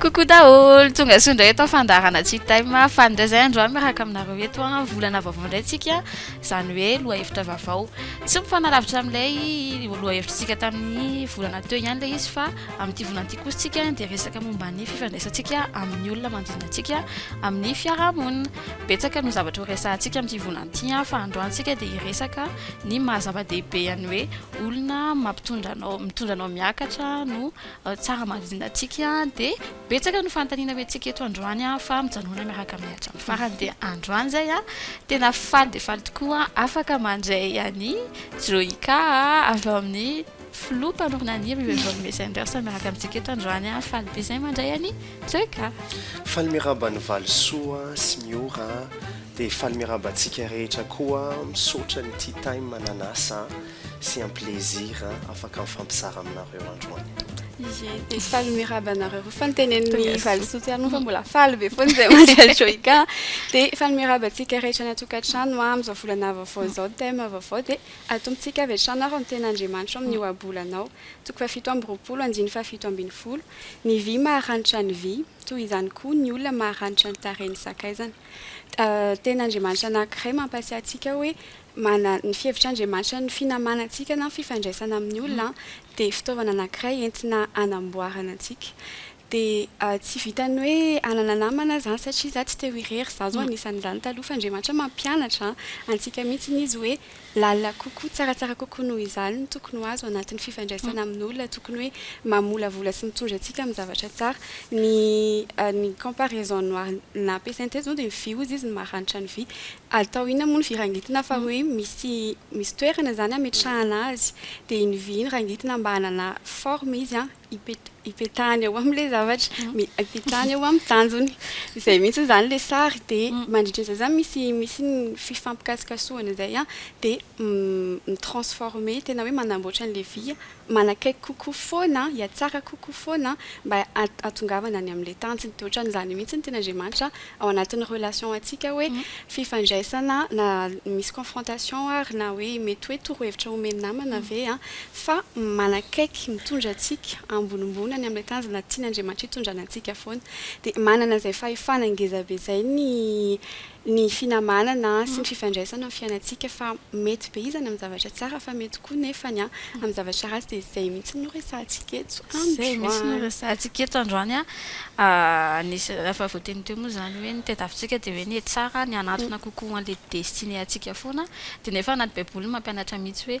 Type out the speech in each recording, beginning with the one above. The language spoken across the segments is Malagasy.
Coucou daholo, tonga soa indray eto amin'ny fandaharana Tea Time fa indray izay androany miaraka aminareo eto an, volana vaovao indray tsika izany hoe lohahevitra vaovao, tsy mifanalavitra amin'ilay lohahevitrintsika tamin'ny volana teo ihany ilay izy fa amin'ity volana ity kosa tsika dia resaka momba ny fifandraisantsika amin'ny olona manodidina antsika amin'ny fiaraha-monina, betsaka no zavatra ho resahantsika amin'ity volana ity an, fa androany tsika dia hiresaka ny maha zava-dehibe an'ny hoe olona mampitondra anao, mitondra anao miakatra no. tsara marihina antsika dia betsaka ny fanontaniana ho antsika eto androany aho fa mijanona miaraka amin'ny hatramin'ny farany dia androany izay aho tena faly dia faly tokoa afaka mandray any Joyka avy ao amin'ny filoha mpanorina ny hira io Evolve Messenders miaraka amintsika eto androany aho faly be izay mandray any Joyka faly miarahaba ny valisoa sy miora dia faly miarahaba antsika rehetra koa misaotra ny tea time mananasa C'est un plaisir afaka mifampizara aminareo androany. Ye, dia faly miraba anareo roa fa ny tenen'ny valisoa tsy ary fa mbola faly be foana izay Maria Joica. Dia faly miraba antsika rehetra any an-tokantrano amin'izao volana vaovao izao, thème vaovao dia atombotsika avy hatrany ary ny tenin'Andriamanitro amin'ny ohabolanao. Toko fahafito amby roapolo, andininy fahafito ambin'ny folo, Ny vy maharanitra ny vy, toy izany koa ny olona maharanitra ny tarehin'ny sakaizany. Tenin'Andriamanitra anankiray mampatsiahy antsika hoe Manana ny fihevitr'Andriamanitra ny finamanan-tsika na ny fifandraisana amin'ny olona dia fitaovana anankiray entina hanamboarana antsika. Dia tsy vitan'ny hoe hanana namana izany satria izaho tsy te ho irery, izaho izao anisan'izany taloha fa Andriamanitra mampianatra antsika mihitsy Izy hoe lalina kokoa, tsaratsara kokoa noho izany no tokony ho azo anatin'ny fifandraisana amin'olona, tokony hoe mamolavola sy mitondra antsika amin'ny zavatra tsara. Ny ny comparaison noir nampiasainy teto izao dia ny vy hozy izy no maranitra ny vy. Atao inona moa ny vy rangitina fa hoe misy misy toerana zany ametrahana azy dia iny vy iny rangitina mba hanana forme izy an, ipetahany eo amle zavatra, ipetahany eo aminy tanjony, izay mihitsy zany le sary dia mandritra izay zany misy misy ny fifampikasokasohana izay an dia mi transforme tena hoe manamboatra anle vy manakaiky kokoa foana, hihatsara kokoa foana mba hahatongavana any amin'ilay tanjona. Dia ohatran'izany mihitsy ny tian'Andriamanitra ao anatin'ny relation antsika hoe fifandraisana na misy confrontation ary na hoe mety hoe torohevitra omen'ny namana ve an, fa manakaiky, mitondra antsika ambonimbony any amin'ilay tanjona tian'Andriamanitra hitondrana antsika foana. Dia manana izay fahefana ngezabe izay ny ny finamanana sy ny fifandraisana amin'ny fiainantsika fa mety be izy any amin'ny zavatra tsara fa mety koa nefa ny amin'ny zavatra ratsy dia izay mihitsy no resahantsika eto androany. Izay mihitsy no resahantsika eto androany an! Nisy efa voateny teo moa izany hoe ny tadiavintsika dia hoe ny hetsara ny hanantona kokoa an'ilay destinée antsika foana dia nefa anaty baiboly mampianatra mihitsy hoe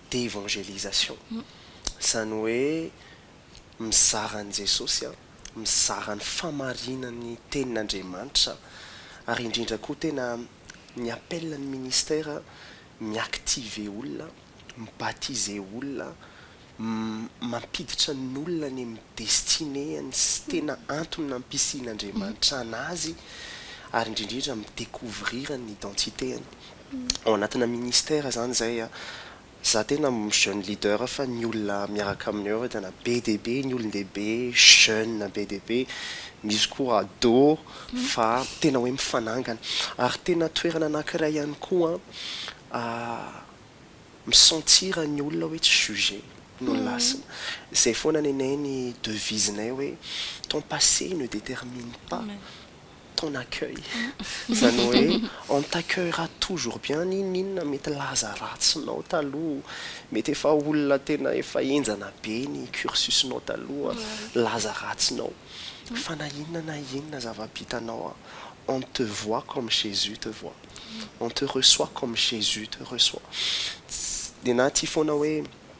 d'évangélisation, izany hoe mizara an'i Jesosy, mizara ny fahamarinan'ny tenin'Andriamanitra ary indrindra koa tena ny appel ny ministère mi-activer olona, mi-baptiser olona, mampiditra ny olona any amin'ny destinée-ny sy tena antony nampisian'Andriamanitra anazy ary indrindra mi-découvrir ny identité-ny. ao anatina ministère izany izay a, za tena jeune leader fa ny olona miaraka aminay ao tena be dia be ny olon-dehibe, jeune be dia be, misy koa ado fa tena hoe mifanangana. Ary tena toerana anankiray ihany koa mi-sentir ny olona hoe tsy juger no lasina. Izay foana nenay ny devise-nay hoe, ton passé ne détermine pas ton accueil izany hoe on t'accueillera toujours bien n'inon'inona mety laza ratsinao taloha mety efa olona tena efa henjana be ny cursusnao taloha laza ratsinao fa na inona na inona zava-bitanao on te voit comme jesus te voit on te reçoit comme jesus te reçoit tsy dia na tia foana hoe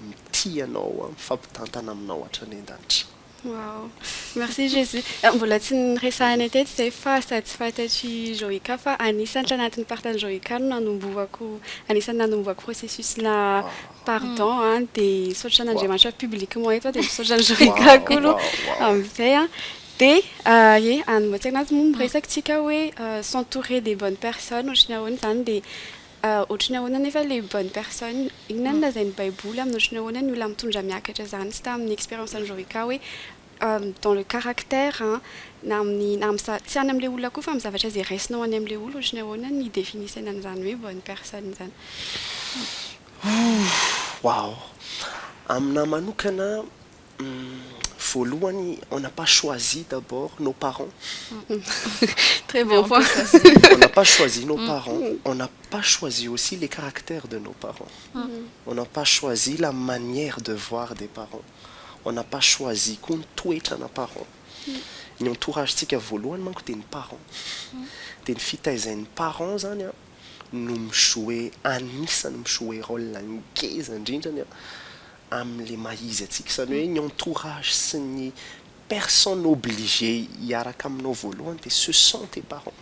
Mitia anao aho, mifampitantana aminao hatran'Endanitra. Wow! Merci Jésus! Mbola tsy niresahanay teto izay fa sady tsy fantatr'i Joyka fa anisany tanatin'ny partan'i Joyka no nanombohako, anisany nanombohako processus na pardon an, dia misaotra an'Andriamanitra publiquement eto aho dia misaotra an'i Joyka koa aloha amin'izay an, dia ie anombohantsika anazy moa miresaka isika hoe s'entourer des bonnes personnes ohatry ny ahoana izany dia Ohatran'ny ahoana anefa ilay bonne personne? Inona no lazain'ny Baiboly amin'ny ohatran'ny ahoana ny olona mitondra miakatra izany? Tsy tamin'ny expérience an'i Jovica hoe dans le caractère an, na amin'ny, na amin'ny, tsy any amin'ilay olona koa fa amin'ny zavatra izay raisinao any amin'ilay olona, ohatran'ny ahoana ny définition an'izany hoe bonne personne izany? Waouh! Amin'ahy manokana, Voalohany on n'a pas choisi d'abord nos parents très bon point on n'a pas choisi nos parents on n'a pas choisi aussi les caractères de nos parents on n'a pas choisi la manière de voir des parents on n'a pas choisi koa ny toetrana parents ny entourage tsika voalohany manko dia ny parents dia ny fitaizain'ny parents zany an no mi-jouer anisany mi-jouer rôle ngeza indrindrany an amin'ilay maha izy antsika, izany hoe ny entourage sy ny personne obligé hiaraka aminao voalohany dia ce sont tes parents.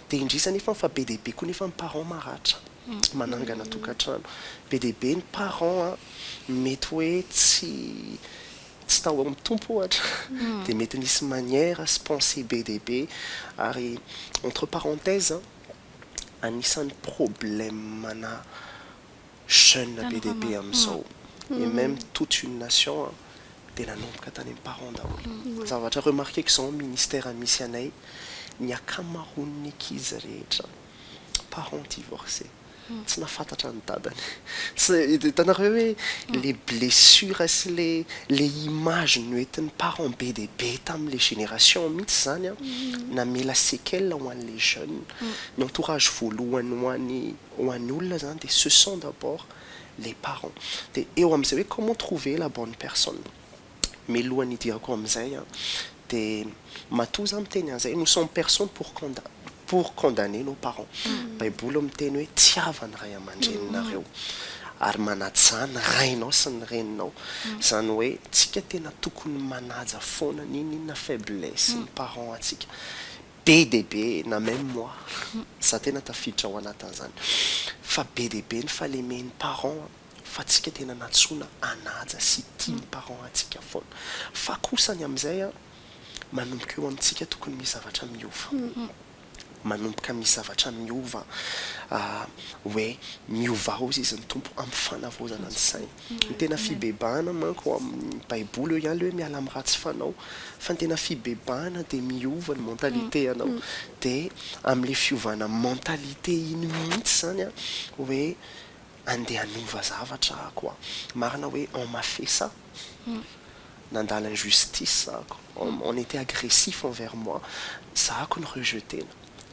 Dia indrisy anefa fa be dia be koa anefa ny parents maratra, manangana tokantrano. Be dia be ny parents mety hoe tsy tsy tao amin'ny Tompo ohatra, dia mety nisy manière sy pensée be dia be. Ary entre parenthèses, anisan'ny problème-na jeune be dia be amin'izao et meme toute une nation an dia nanomboka tany amin'ny parents daholo. Zavatra remarquer-ko izao amin'ny ministère misy anay, ny akamaroan'ny ankizy rehetra parents divorcés, tsy nahafantatra ny dadany. Tsy, hitanareo ve hoe ilay blessure sy ilay, ilay image noentin'ny parents be dia be tamin'ilay génération mihitsy izany an, namela séquelles ho an'ilay jeune, ny entourage voalohany ho an'ny ho an'ny olona zany dia ce sont d'abord les parents dia eo amin'izay hoe comment trouver la bonne personne mialohan'ny hidirako amin'izay an dia matoa za miteny an'izay nous sommes personne pour conda pour condamner nos parents baiboly miteny hoe tiava ny ray aman-dreninareo ary manaja izany ny rainao sy ny reninao izany hoe tsika tena tokony manaja foana n'inon'inona faiblesse ny parents antsika Be dia be na même moi za tena tafiditra ao anatin'izany fa be dia be ny fahalemen'ny parents fa tsika tena nantsoina hanaja sy tia ny parents antsika foana fa kosa ny amin'izay an manomboka eo amintsika tokony misy zavatra miova manomboka misy zavatra miova hoe miovao izy ny Tompo amin'ny fanavaozana ny saina. Ny tena fibebahana manko ao amin'ny baiboly eo ihany le hoe miala amin'ny ratsy fanao fa ny tena fibebahana dia miova ny mentalité anao dia amin'le fiovana mentalité iny mihitsy zany an hoe andeha hanova zavatra aho koa marina hoe on m'a fait ça nandala injustice aho on était agressif envers moi za ko ny rejeter-na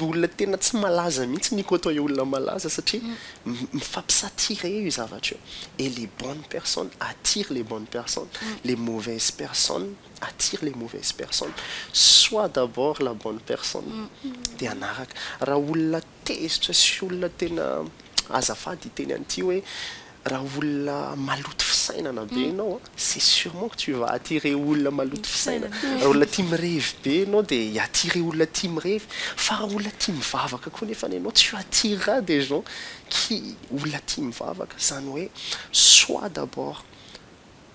olona tena tsy malaza mihitsy ny côtoyer olona malaza satria mifampi-s'attirer io zavatra io et les bonnes personnes attirent les bonnes personnes, les mauvaises personnes attirent les mauvaises personnes, soit d'abord la bonne personne dia hanaraka, raha olona tezitra sy olona tena azafady hiteny an'ity hoe. Raha olona maloto fisainana be ianao, c'est surement que tu vas attirer olona maloto fisainana. Raha olona tia mirevy be ianao dia hi attirer olona tia mirevy. Fa raha olona tia mivavaka koa nefany ianao, tu attireras des gens qui, olona tia mivavaka. Izany hoe, soit d'abord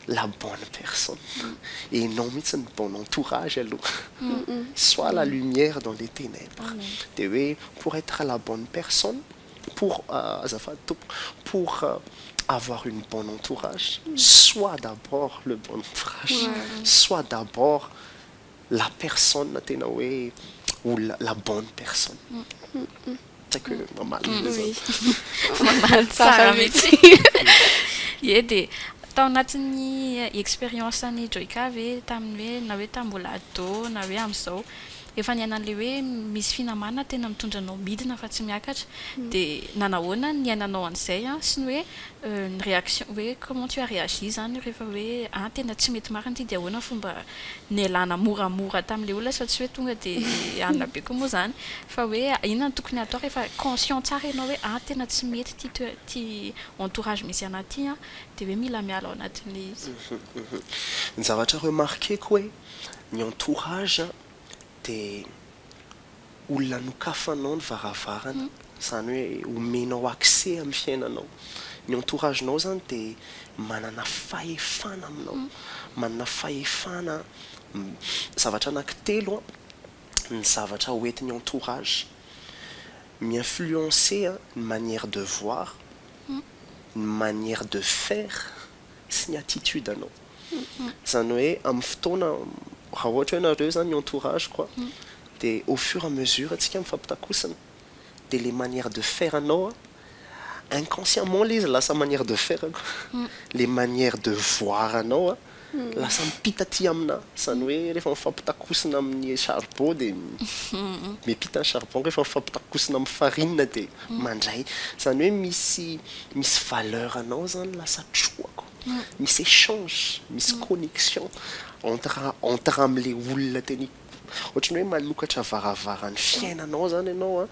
la bonne personne, et non mihitsy ny bon entourage aloha. Soit la lumière dans les tenèbres. Dia hoe, pour être la bonne personne, pour azafady tompoko pour avoir une bonne entourage soit d'abord le bon entourage soit d'abord la personne tena hoe olona la bonne personne tsy haiko hoe mamaly ve zany mamaly tsara mihitsy ie dia tao anatin'ny expérience an'i Joyka ve tamin'ny hoe na hoe tamin'ny mbola ado na hoe amin'izao Efa niaina an'ilay hoe misy finamana tena mitondra anao midina fa tsy miakatra de nanahoana niainanao an'izay an, sy ny hoe ny réaction hoe comment tu as réagi zany rehefa hoe an tena tsy mety marina ity de ahoana ny fomba nialana moramora tamin'ilay olona sao tsy hoe tonga de alina be koa moa zany fa hoe inona no tokony hatao rehefa conscient tsara ianao hoe an tena tsy mety ity toerana ity entourage misy anah ity an de hoe mila miala ao anatin'ilay izy. Ny zavatra remarqueko hoe ny entourage dia olona nokafanao ny varavarana izany hoe omenao accès amin'ny fiainanao, ny entourage nao izany dia manana fahefana aminao, manana fahefana zavatra anaky telo ny zavatra ho entin'ny entourage, mi influencer ny manière de voir, ny manière de faire. sy ny attitude anao zany hoe amin'ny fotoana raha ohatra hoe nareo zany ny entourage ko de au fur à mesure tsika mifampitakosina de le manière de faire anao inconsciemment le izy lasa manière de faire ko le manière de voir anao lasa mipita aty amina zany hoe refa mifampitakosina amin'ny charbot de mipita ny charbon refa mifampitakosina amin'ny farine de mandray zany hoe misy misy valeur anao zany lasa trohako misy echange misy connexion entre entre amle olona tena ohatran'ny hoe manokatra varavaran'ny fiainanao zany ianao a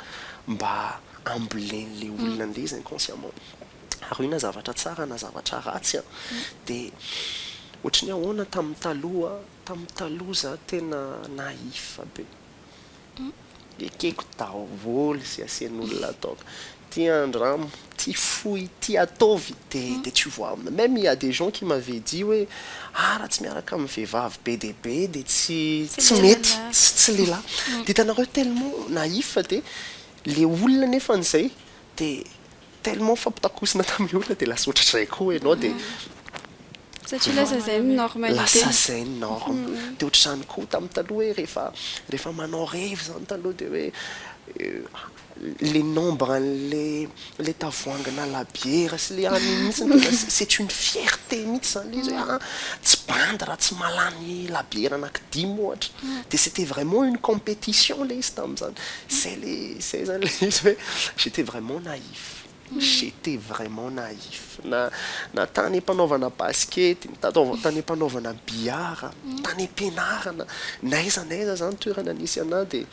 mba hambolen'le olona andeha izy inconsciemment ary io na zavatra tsara na zavatra ratsy a de ohatran'ny hoe ahoana tamin'ny taloha tamin'ny taloha za tena naïf be Ekeko daholo ze asen'olona donc ty andramo ty fohy ty ataovy de de tsy vo amina meme il ya des gens qui m'avait dit hoe ah raha tsy miaraka amin'ny vehivavy be dia be de tsy tsy mety tsy lehilahy de hitanareo tellement naïf de le olona nefany zay de Tellement nifampitakosina tamin'ny olona dia lasa ohatran'izay koa ianao dia Satria lasa izay ny norme ny tena. Lasa izay ny norme. Dia ohatr'izany koa tamin'ny taloha hoe rehefa rehefa manao revy izany taloha dia hoe ilay nombre an'ilay ilay tavoahangina labiera sy ilay an'iny mihitsy no tena c'est une fierté mihitsy izany ilay izy hoe tsy bandy raha tsy mahalany labiera anaky dimy ohatra. Dia c'était vraiment une competition ilay izy tamin'izany. Zay le zay zany le izy hoe j'étais vraiment naïf, j'étais vraiment naïf na na tany am-panaovana basikety, na tany am-panaovana billard, tany am-pianarana, n'aiza n'aiza zany toerana nisy anah de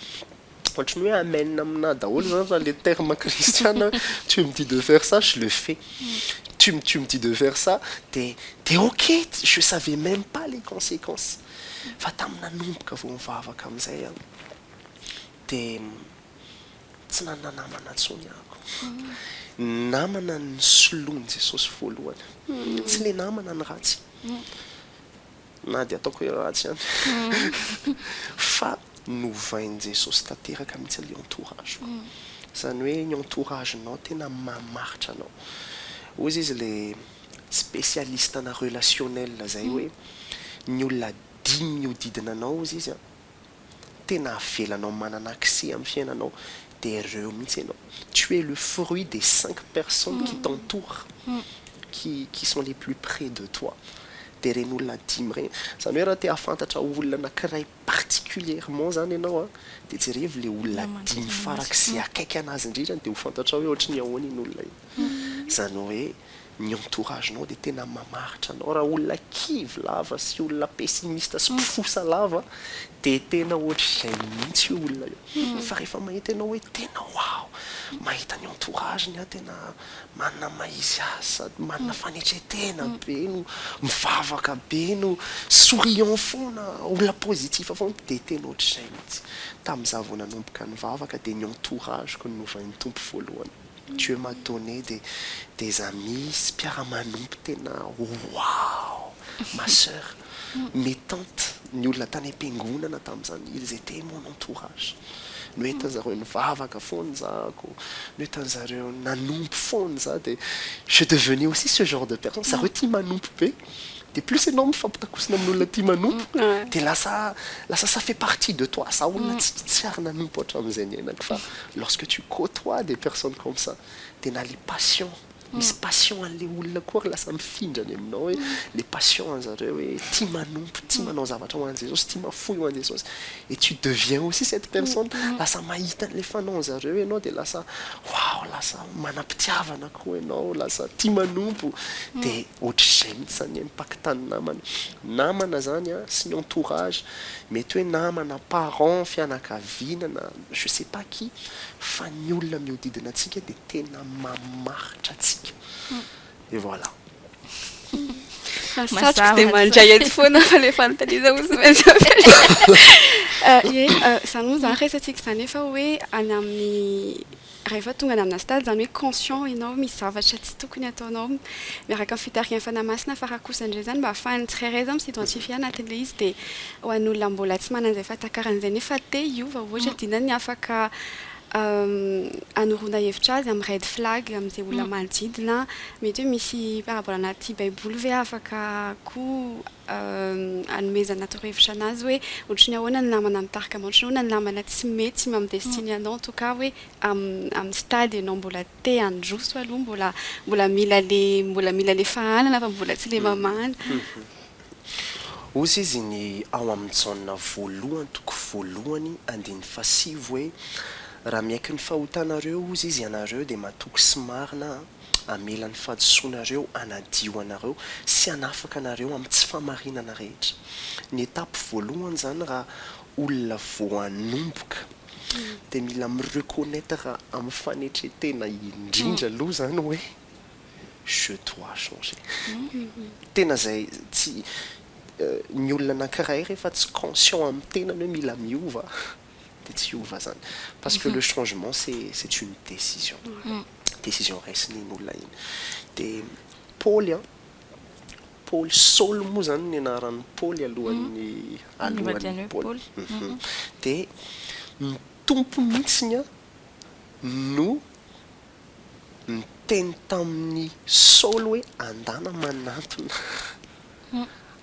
ohatran'ny hoe amen aminah daholo zany raha le terme kristiana hoe tu me dis de faire ça je le fais, tu me tu me dis de faire ça de de ok, je savais même pas les consequences fa tamin'ny nanomboka vao nivavaka amin'izay aho. dia tsy nanana namana intsony aho. Ny namana nosoloin'i Jesosy voalohany, tsy ilay namana ny ratsy, na dia ataoko hoe ratsy ihany, fa novain'i Jesosy tanteraka mihitsy ilay entourage-ko. Izany hoe ny entourage-nao tena mamaritra anao. Hoy izy ilay spécialiste-na relationnel izay hoe, ny olona dimy mihodidina anao hozy izy an, tena avelanao manana accès am fiainanao de reo mihitsy enao, tu es le fruit des cinq personnes qui t'entourent, qui qui sont les plus près de toi de reny olona dimy reny, zany hoe raha te hahafantatra olona anakiray particulierement zany enao a de jerevo le olona dimy farak ze akaiky anazy indrindra de ho fantatrao hoe ohatry ny ahoana iny olona iny, zany hoe Ny entourage nao dia tena mamaritra anao, raha olona kivy lava sy olona pessimiste sy mpifosa lava dia tena ohatr'izay mihitsy io olona io, fa rehefa mahita ianao hoe tena waouh, mahita ny entourage-ny aho tena manana ny maha izy azy sady manana fanetretena be no mivavaka be no souriant foana, olona positif foana dia tena ohatr'izay mihitsy, tamin'izaho vao nanomboka nivavaka dia ny entourage-ko no novain'ny Tompo voalohany. Dieu m'a donné de des amis mpiara-manompo tena waouh! ma soeur, mes tantes, ny olona tany am-piangonana tamin'izany, ils étaient mon entourage, noentin-dry zareo nivavaka foana izahako, noentin-dry zareo nanompo foana izaho dia je devenais aussi ce genre de personne, zareo tia manompo be. de plus enao mifampitakosina amin'olona tia manompo de lasa lasa ça fait partie de toi, za olona tsy ary nanompo hatramin'izay niainako fa lorsque tu cotoies des personnes comme ça de na le passion misy passion an'le olona koa ary lasa mifindra any aminao hoe le passion an'zareo hoe tia manompo, tia manao zavatra ho an'i Jesosy, tia mafoy ho an'i Jesosy et tu deviens aussi cette personne, lasa mahita an'le fanaon'zareo enao de lasa waouh lasa manam-pitiavana. koa ianao lasa tia manompo de ohatr'izay mintsy zany impact ny namana, namana zany a sy ny entourage mety hoe namana, parents, fianakaviana na je sais pas qui fa ny olona miodidina antsika de tena mamaritra antsika et voilà. Satriko dia mandray eto foana fa le fanontaniana hozy tsy maintsy ampianarina. Ie, zany moa zany resatsika zany efa hoe any amin'ny. Rehefa tonga any amina stade izany hoe conscient ianao misy zavatra tsy tokony ataonao miaraka amin'ny fitarihan'ny Fanahy Masina fa raha kosa indray izany mba ahafahan'ny tsirairay izany mi-s'identifier anatin'ilay izy dia ho an'olona mbola tsy manana izay fahatakarana izay nefa te hiova ohatra dia ny afaka hanoroana hevitra azy amin'ny red flag amin'izay olona manodidina mety hoe misy parabole anaty baiboly ve afaka koa hanomezana torohevitra anazy hoe ohatry ny ahoana ny namana mitarika anao, ohatry ny ahoana ny namana tsy mety mamy destinée anao en tout cas hoe amin'ny stade ianao mbola te handroso aloha mbola mbola mila le mbola mila le fahanana fa mbola tsy le mamahana. Hozy izy ny ao amin'ny Jaona voalohany toko voalohany andininy fahasivy hoe, Raha miaiky ny fahotanareo, hozy izy, ianareo dia matoky sy marina hamela ny fahadisoanareo hanadio anareo sy hanafaka anareo amin'ny tsy fahamarinana rehetra. Ny étape voalohany izany raha olona vao hanomboka dia mila mi-reconnaitre amin'ny fanetren-tena indrindra aloha izany hoe je dois changer. Tena izay tsy, ny olona anankiray rehefa tsy conscient amin'ny tenany hoe mila miova, dia tsy hiova zany parce que le changement c'est c'est une décision décision raisiny iny olona iny dia Paoly an Paoly Saoly moa zany ny anaran'i Paoly alohan'ny alohan'ny Paoly dia ny tompo mihitsiny an no niteny tamin'ny Saoly hoe andana manantona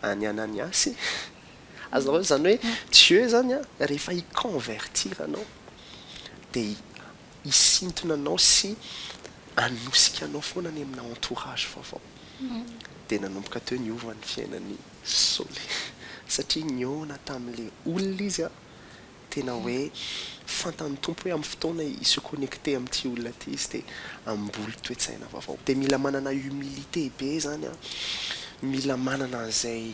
an'i Ananiasy Azonao raisina? Izany hoe Dieu izany an, rehefa hi-convertir anao dia hisintona anao sy hanosika anao foana any amina entourage vaovao. Dia nanomboka teo niova ny fiainan'i Soly. Satria nihaona tamin'ilay olona izy an, tena hoe fantan'ny Tompo hoe amin'ny fotoana hi-se connecter amin'ity olona ity izy dia hamboly toe-tsaina vaovao. Dia mila manana humilité be izany an, mila manana an'izay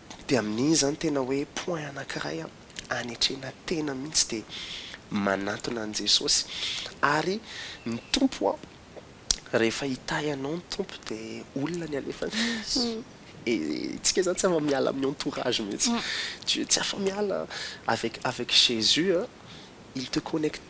Dia amin'iny izany tena hoe point anankiray anetrena tena mihitsy dia manatona an'i Jesosy. Ary ny Tompo rehefa hitahy anao ny Tompo dia olona ny alefany. Isika izany tsy afa miala amin'ny entourage mihitsy. Tsy afa miala avec avec Jésus il te connecte.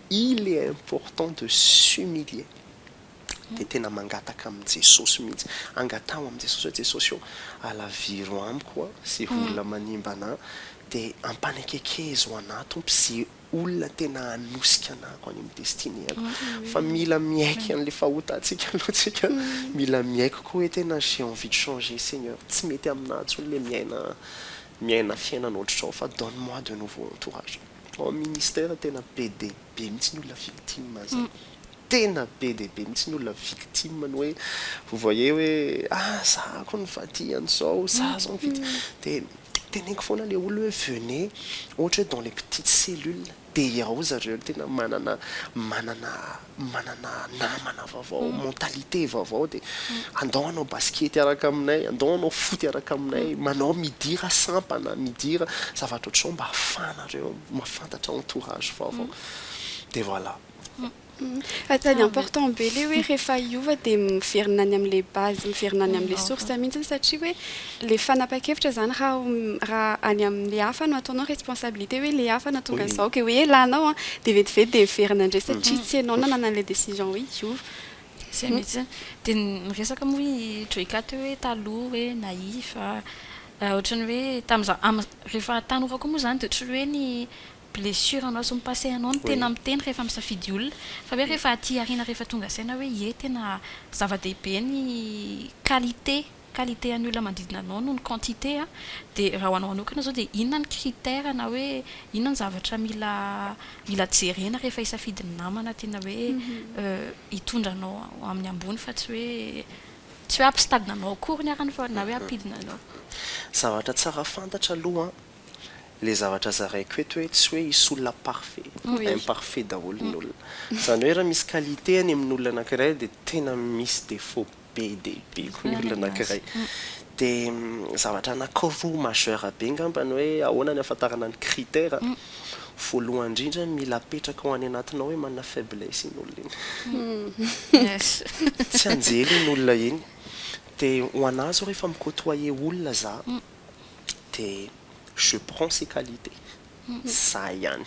Il est important de s'humilier dia tena mangataka amin'i Jesosy mihitsy, angataho amin'i Jesosy hoe Jesosy ô, alaviro amiko a, ze olona manimba anà, dia ampanekekezo anà Tompo ze olona tena hanosika anà ko any amin'ny destinée-ko, fa mila miaiky an'le fahotantsika aloha tsika, mila miaiky koa hoe tena j'ai envie de changer Seigneur, tsy mety aminà intsony le miaina miaina fiainana ohatrotrao fa donne moi de nouveau entourage. Ao amin'ny ministère tena be dia be mihitsy ny olona victime an'izay. Tena be dia be mihitsy ny olona victime ny hoe vous voyez hoe ah za ko nifadiy an'izao, za zao nifity dia teneniko foana ilay olona hoe venez ohatra hoe dans les petites cellules dia ao zareo tena manana manana manana namana vaovao, mentalité vaovao dia andao hanao basket hiaraka aminay, andao hanao foot hiaraka aminay, manao midira sampana, midira zavatra ohatr'izao mba ahafahanareo mahafantatra entourage vaovao. Dia voilà. Sady important be ilay hoe rehefa hiova dia miverina any amin'ilay base, miverina any amin'ilay source mihitsy satria hoe Le fanapakevitra zany ra ra any amle hafa no ataonao responsabilité hoe le hafa natonga anzao ke hoe lanao an de vetivety de heverina ndray satria tsy enao nanana anle décision hoe hiova. Zay mitsy, de miresaka moa i joyka teo hoe taloha hoe naïf a, ohatrany hoe tamza am refa tanora koa moa zany de ohatry hoe ny blessure anao sy ny passé anao no tena miteny refa misafidy olona fa hoe refa aty aoriana refa tonga saina hoe ie tena zava-dehibe ny qualité qualité an'ny olona manodidina anao noho ny quantité a, de raha ho anao manokana zao de inona ny critère na hoe inona ny zavatra mila mila jerena rehefa hisafidy ny namana tena hoe hitondra anao ho amin'ny ambony fa tsy hoe tsy hoe hampisitadina anao akory ny arany fa na hoe hampidina anao. Zavatra tsara fantatra aloha an, le zavatra zaraiko eto hoe tsy hoe hisy olona parfait, imparfait daholo ny olona, zany hoe raha misy qualité any amin'olona anankiray de tena misy défaut, be dia be koa ny olona anankiray. Dia zavatra anankiroa majeur be angamba ny hoe ahoana ny ahafantarana ny critère. Voalohany indrindra, mila apetraka ao any anatinao hoe manana faiblesse iny olona iny. Tsy anjely iny olona iny. Dia ho anà izao rehefa mi-côtoyer olona za, dia je prends ses qualités. Izay ihany.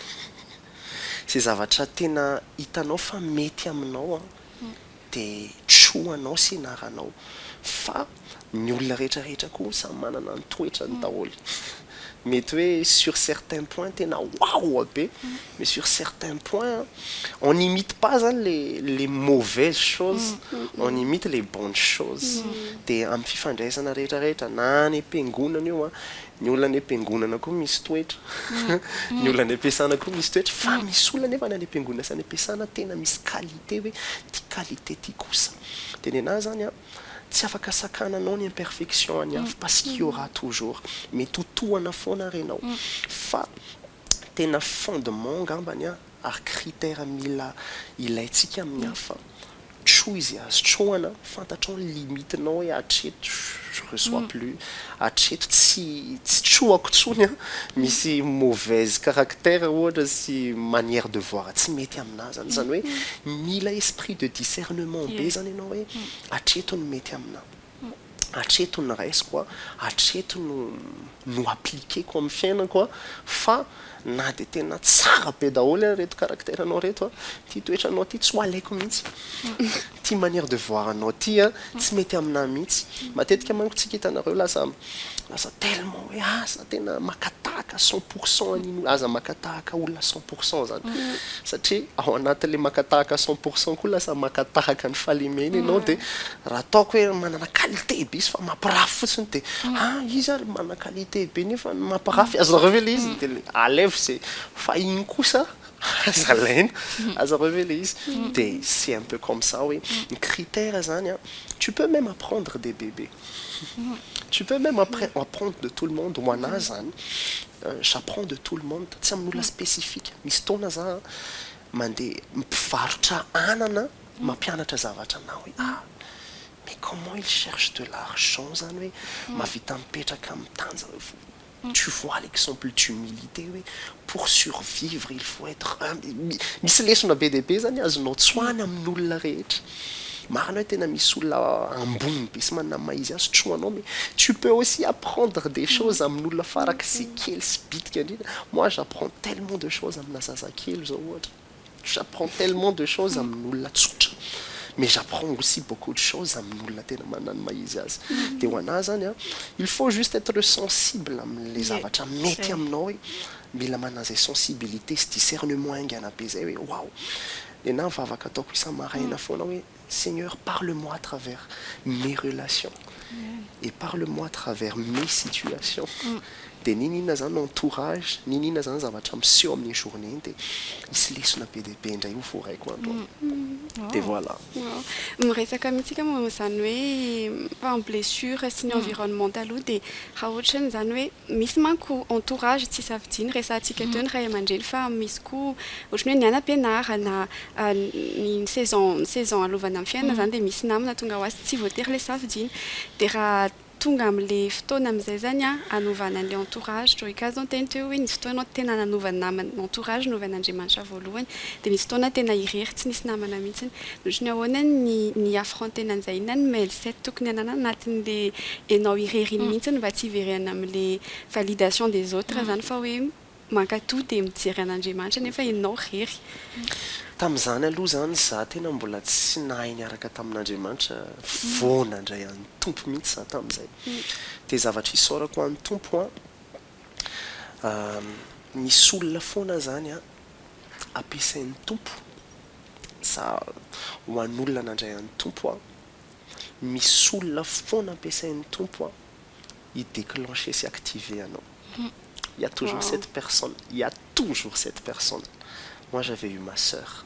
Izay zavatra tena hitanao fa mety aminao, dia tro anao sy naranao fa ny olona rehetra rehetra koa samy manana ny toetrany daholo mety hoe sur certains points tena waoa be mais sur certains points on n'imite pas zany le le mauvaise chose on imite le bonne chose dia amin'ny fifandraisana rehetra rehetra na any am-piangonana io an Ny olona any am-piangonana koa misy toetra. Ny olona any am-piasana koa misy toetra. Fa misy olona anefa na any am-piangonana sy any am-piasana tena misy qualité hoe ity qualité ity kosa. Dia nenaha izany an, tsy afaka sakananao ny imperfection an'ny hafa parce qu'il y aura toujours. Mety ho tohana foana ary ianao. Fa tena fondement angambany an, ary critère mila ilaintsika amin'ny hafa, Tjo izy azo trohana, fantatrao ny limite nao hoe hatreto je reçois plus, hatreto tsy tsy trohako tsony an, misy mauvaise caractère ohatra sy manière de voir tsy mety aminà zany, zany hoe mila esprit de discernement be zany ianao hoe hatreto ny mety aminà. Hatreto no raisiko an, hatreto no no appliquer-ko amin'ny fiainako an, fa na dia tena tsara be daholo ary ireto caractère anao ireto an, ity toetranao ity tsy ho alaiko mihitsy, ity manière de voir anao ity an, tsy mety aminahy mihitsy, matetika manko tsika hitanareo lasa Aza tellement hoe aza tena maka tahaka cent pour cent an'iny, aza maka tahaka olona cent pour cent zany, satria ao anatin'le maka tahaka cent pour cent koa lasa maka tahaka ny fahalemena ianao dia raha ataoko hoe manana qualité be izy fa mampirafy fotsiny dia ah izy ary manana qualité be nefa ny mampirafy azy nareo ve le izy dia le alaivo ze fa iny kosa aza alaina aza nareo ve le izy dia c'est un peu comme ça hoe ny critère zany an tu peux même apprendre des bébés. Tu peux même apprendre de tout le monde, ho anah zany j'apprends de tout le monde, tsy amin'ny olona spécifique, misy fotoana zah an mandeha mpivarotra anana mampianatra zavatra anah hoe ah mais comment il cherche de l'argent zany hoe mahavita mipetraka mitanja Tu vois l'exemple d'humilité hoe pour survivre il faut être humble, misy lesona be dia be zany azonao tsoahina amin olona rehetra, marina hoe tena misy olona ambony be sy manana ny maha izy azy trohanao mais tu peux aussi apprendre des choses amin olona farak'izay kely sy bitika indrindra, moi j'apprends tellement de choses amina zazakely zao ohatra. J'apprends tellement de choses amin'olona tsotra mais j'apprends aussi beaucoup de choses amin'olona tena manana ny maha izy azy. Dia ho anah izany an, il faut juste être sensible amin'ilay zavatra mety aminao hoe mila manana izay sensibilité sy discernement haingana be izay hoe waouh! Dia na vavaka ataoko isa-maraina foana hoe Seigneur parle moi à travers mes relations et parle moi à travers mes situations dia n'inon'inona izany no entourage n'inon'inona izany zavatra miseho amin'ny journée iny dia hisy lesona be dia be indray ho voaraiko andro any dia voilà. Miresaka amintsika momba izany hoe en blessure sy ny environnement taloha dia raha ohatran'izany hoe Misy manko entourage tsy safidiany resahantsika teo ny ray aman-dreny fa misy koa ohatran'ny hoe ny anam-pianarana ny saison ny saison alovana amin'ny fiainana izany dia misy namana tonga ho azy tsy voatery ilay safidiana dia raha tonga amin'ilay fotoana amin'izay izany an anovana an'ilay entourage Joy Cas izao niteny teo hoe nisy fotoana tena nanova ny namany ny entourage novan'Andriamanitra voalohany dia nisy fotoana tena irery tsy nisy namana mihitsy Otrany ahoana ny ny affronter-na an'izay inona ny mail set tokony ananana anatin'le enao irery iny mihitsy ny mba tsy hiverena amle validation des autres zany fa hoe mankatoa de mijery an'Andriamanitra nefa enao rery. Tamin'izany aloha zany za tena mbola tsy nahay niaraka tamin'Andriamanitra vao nandray an'i Tompo mihitsy za tamin'izay de zavatra isaorako an'i Tompo an misy olona foana zany an ampiasain'ny Tompo sa ho an'olona nandray an'ny Tompo aho? Misy olona foana ampiasain'ny Tompo hi declencher sy activer anao. Il y a toujours cette personne, il y a toujours cette personne. Moi j'avais eu ma soeur.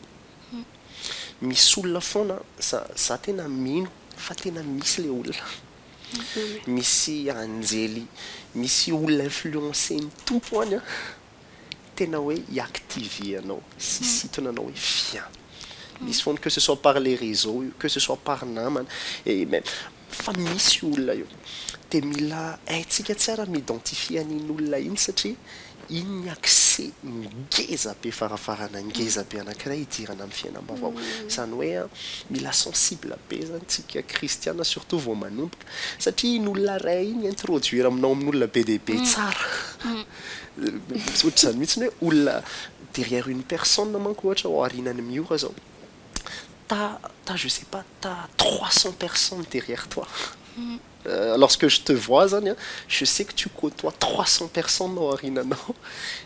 Misy olona foana, za za tena mino fa tena misy le olona. Misy anjely, misy olona influencer-n'ny Tompo any an. tena hoe i-activer anao, sisintona anao hoe viens. Misy foana, que ce soit par les réseaux io, que ce soit par namana, et même fa misy olona io. Dia mila haintsika tsara ny mi-identifier an'iny olona iny satria iny ny accès ngeza be farafarana, ngeza be anankiray hidirana amin'ny fiainam-baovao. Izany hoe mila sensible be izany tsika kristiana surtout vao manomboka satria iny olona iray iny i-introduire aminao amin'olona be dia be tsara. Tsy ohatra izany mihitsy ny hoe olona derrière une personne manko ohatra ao aorianan'i Miora izao. T'as, t'as je sais pas, t'as trois cents personnes derrière toi. Lorsque je te vois izany an, je sais que tu côtoies trois cents personnes ao aoriananao.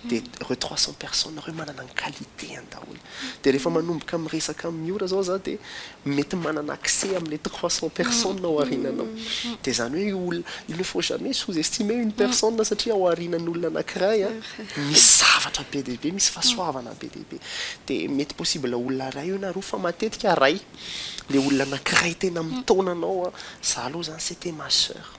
Dia ireo trois cents personnes ireo manana ny qualité-ny daholo. Dia rehefa manomboka miresaka amin'ny ora izao za dia mety manana accès amin'ilay trois cents personnes ao arinanao. Dia izany hoe io olona, il ne faut jamais sous estimer une personne satria ao arinan'olona anakiray an, misy zavatra be dia be, misy fahasoavana be dia be. Dia mety possible olona iray eo na roa fa matetika iray, ilay olona anakiray tena mitaona anao an, za aloha izany c'etait ma soeur.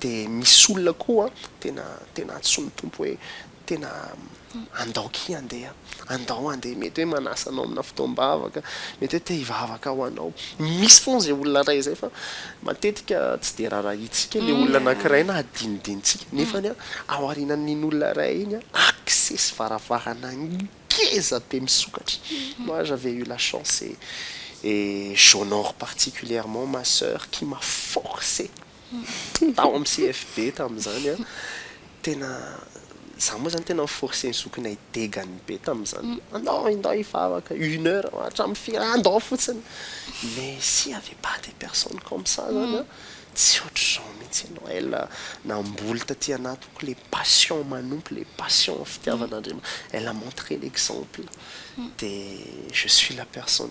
Dia misy olona koa tena tena antsoin'ny Tompo hoe tena andao akia andeha, andao andeha, mety hoe manasa anao amina fotoam-bavaka, mety hoe te hivavaka ho anao. Misy foana izay olona iray izay fa matetika tsy dia raharahiantsika ilay olona anankiray na adinodinontsika nefa ao aorianan'iny olona iray iny accès sy varavarana ngeza be misokatra. Moi j'avais eu la chance et et j'honore particulièrement ma soeur qui m'a forcé Tao amin'ny CFB tamin'izany an, tena izaho moa izany tena ni-forcer ny zokinay degany be tamin'izany. Andao, indao hivavaka, une heure, hatramin'ny firy an, andao fotsiny. Mais s'il n'y avait pas des personnes comme ça izany an, tsy hoatr'izao mihitsy ianao. Elle namboly taty anatiko ilay passion manompo, ilay passion fitiavan'Andriamanitra. Elle a montré l'exemple. Dia je suis la personne.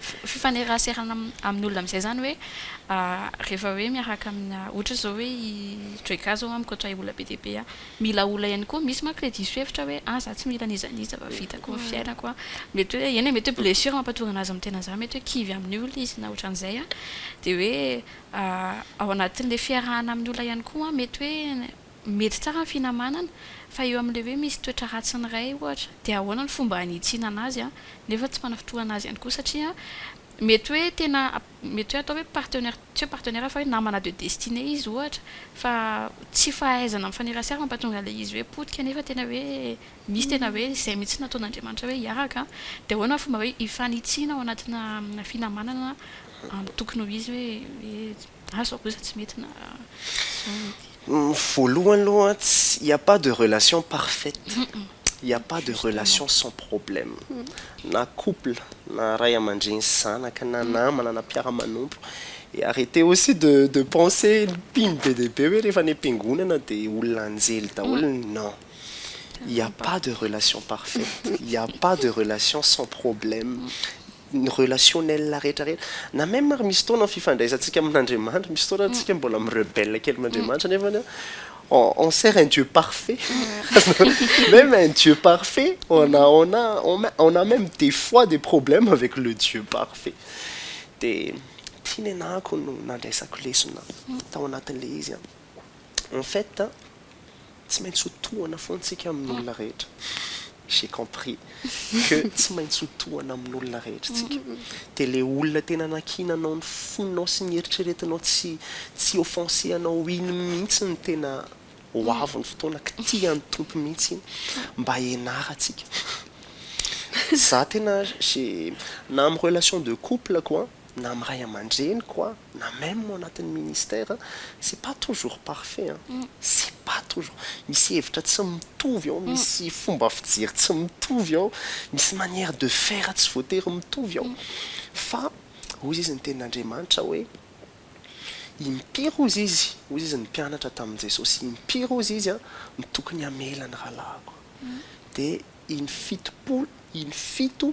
Fifaneraserana amin'ny olona amin'izay izany hoe rehefa hoe miaraka amina ohatra izao hoe i Joyka izao mikoatra ahy olona be dia be aho. Mila olona ihany koa, misy manko ilay diso hevitra hoe ah za tsy mila an'iza an'iza fa vitako ny fiainako an. Mety hoe eny e, mety hoe blessure mampahatonga anazy mitena izany, mety hoe kivy amin'ny olona izy na ohatran'izay an. Dia hoe ao anatin'ilay fiarahana amin'ny olona ihany koa an, mety hoe Mety tsara ny finamanana, fa eo amin'ilay hoe misy toetra ratsin'ny ray ohatra, dia ahoana ny fomba hanitsinana azy nefa tsy manafintohana azy ihany koa satria mety hoe tena mety hoe atao hoe partenaire tsy hoe partenaire fa hoe namana de destinée izy ohatra fa tsy fahaizana mifanerasera no mampatonga an'ilay izy hoe potika nefa tena hoe misy tena hoe izay mihitsy nataon'Andriamanitra hoe hiaraka dia ahoana ny fomba hoe hifanitsiana ao anatina finamanana amin'ny tokony ho izy hoe hoe Azo kosa tsy mety na zao mety. Voalohany aloha il n'y a pas de relation parfaite, il n'y a pas de relation sans problème, na couple na ray aman-dreny sy zanaka na namana na mpiara-manompo et arretez aussi de de penser ny mpino be dia be hoe rehefa any am-piangonana dia olona anjely daholo, non, il n'y a pas de relation parfaite, il n'y a pas de relation sans problème, ny relationnel rehetra rehetra na même ary misy fotoana ny fifandraisantsika amin'Andriamanitra misy fotoana ary tsika mbola mi-rebelle kely amin'Andriamanitra nefany an on on sert un Dieu parfait même un Dieu parfait on a on a on a on a même des fois des problèmes avec le Dieu parfait dia ity nenahako no nandraisako lesona tao anatin'ilay izy an. en fait a, tsy maintsy ho tohana foana isika amin'olona rehetra, j'ai compris que tsy maintsy ho tohana amin'olona rehetra isika, dia ilay olona tena nakiana anao ny fonao sy ny eritreretinao tsy tsy hi-offenser anao iny mihitsy no tena ho avy ny fotoana kitihan'ny Tompo mihitsy iny mba hianarantsika, za tena j'ai na amin'ny relation de couple ko an, na amin'ny ray aman-dreniko aho, na même ao anatin'ny ministère, c'est pas toujours parfait an! c'est pas toujours, misy hevitra tsy mitovy ao, misy fomba fijery tsy mitovy ao, misy manière de faire tsy voatery mitovy ao, fa hoy izy ny tenin'Andriamanitra hoe, impiry hozy izy, hoy izy ny mpianatra tamin'i Jesosy, impiry hozy izy an, no tokony hamela ny rahalahiko? dia in fitopolo, in fito,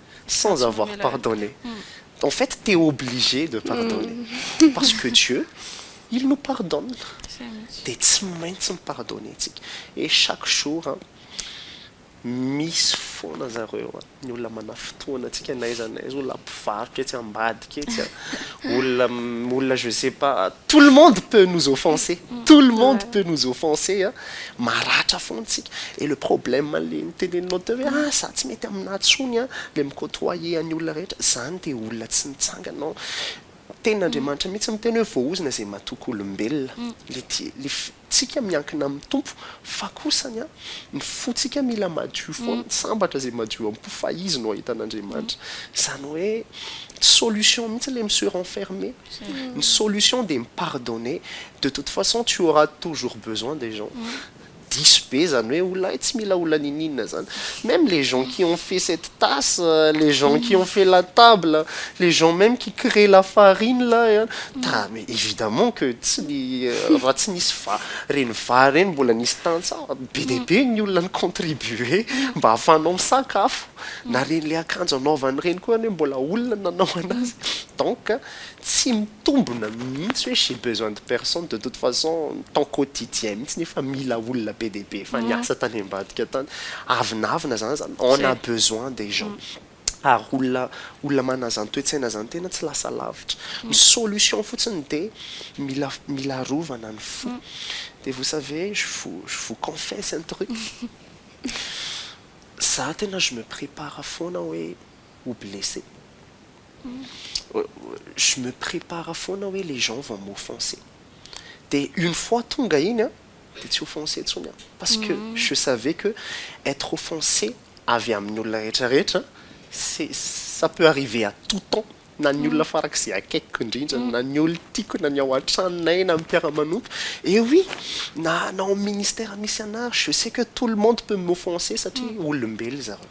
sans avoir pardonné en fait t'es obligé de pardonner parce que Dieu il nous pardonne dia tsy maintsy mi-pardonner tsika et chaque jour an misy foana zareo an ny olona manafitohana antsika n'aiza n'aiza olona mpivarotra etsy ambady ketsy a, olona olona je sais pas, tout le monde peut nous offenser, tout le monde peut nous offenser a, maratra foana isika, et le problème le noteneninao teo hoe ah za tsy mety aminà tsony a, le mi côtoyer an'ny olona rehetra, zany dia olona tsy nitsangana ao, tenin'Andriamanitra mihitsy miteny hoe voaozona izay matoky olombelona, le le. tsika miankina amin'ny Tompo fa kosa ny ny fotsika mila madio foana ny sambatra zay madio ampo fa izy no ahitana Andriamanitra zany hoe tsy solution mihitsy le mi se renfermer ny solution dia mi pardonner de toute façon tu auras toujours besoin des gens diso be zany hoe olona tsy mila olona niniana zany meme les gens qui ont fait cette tasse les gens qui ont fait la table les gens meme qui cree la farine là et Evidemment que tsy ny raha tsy nisy va reny va reny mbola nisy tantsaha be dia be ny olona ni contribuer mba afahanao misakafo na reny le akanjo anaovany reny koa anie mbola olona nanao anazy donc tsy mitombona mihitsy hoe j'ai besoin de personne de toute façon ny temps quotidien mihitsy ny efa mila olona be dia be efa niasa tany ambadika tany avinavina zany zany on a besoin des gens ary olona olona manana izany toe-tsaina izany tena tsy lasa lavitra. Ny solution fotsiny dia mila mila arovana ny fo. Dia vous savez, je vous je vous confesse un truc, za tena je me prépare foana hoe ho blessé, je me prépare foana hoe les gens vont m'offenser. Dia une fois tonga iny an, dia tsy offensé intsony aho parce que je savais que être offensé avy amin'ny olona rehetra rehetra c'est ça peut arriver à tout temps na ny olona farak'izay akaikiko indrindra na ny olona tiako na ny ao an-tranonay na ny mpiara-manompo et oui na na ao amin'ny ministère misy anah je sais que tout le monde peut m'offenser satria olombelo zareo.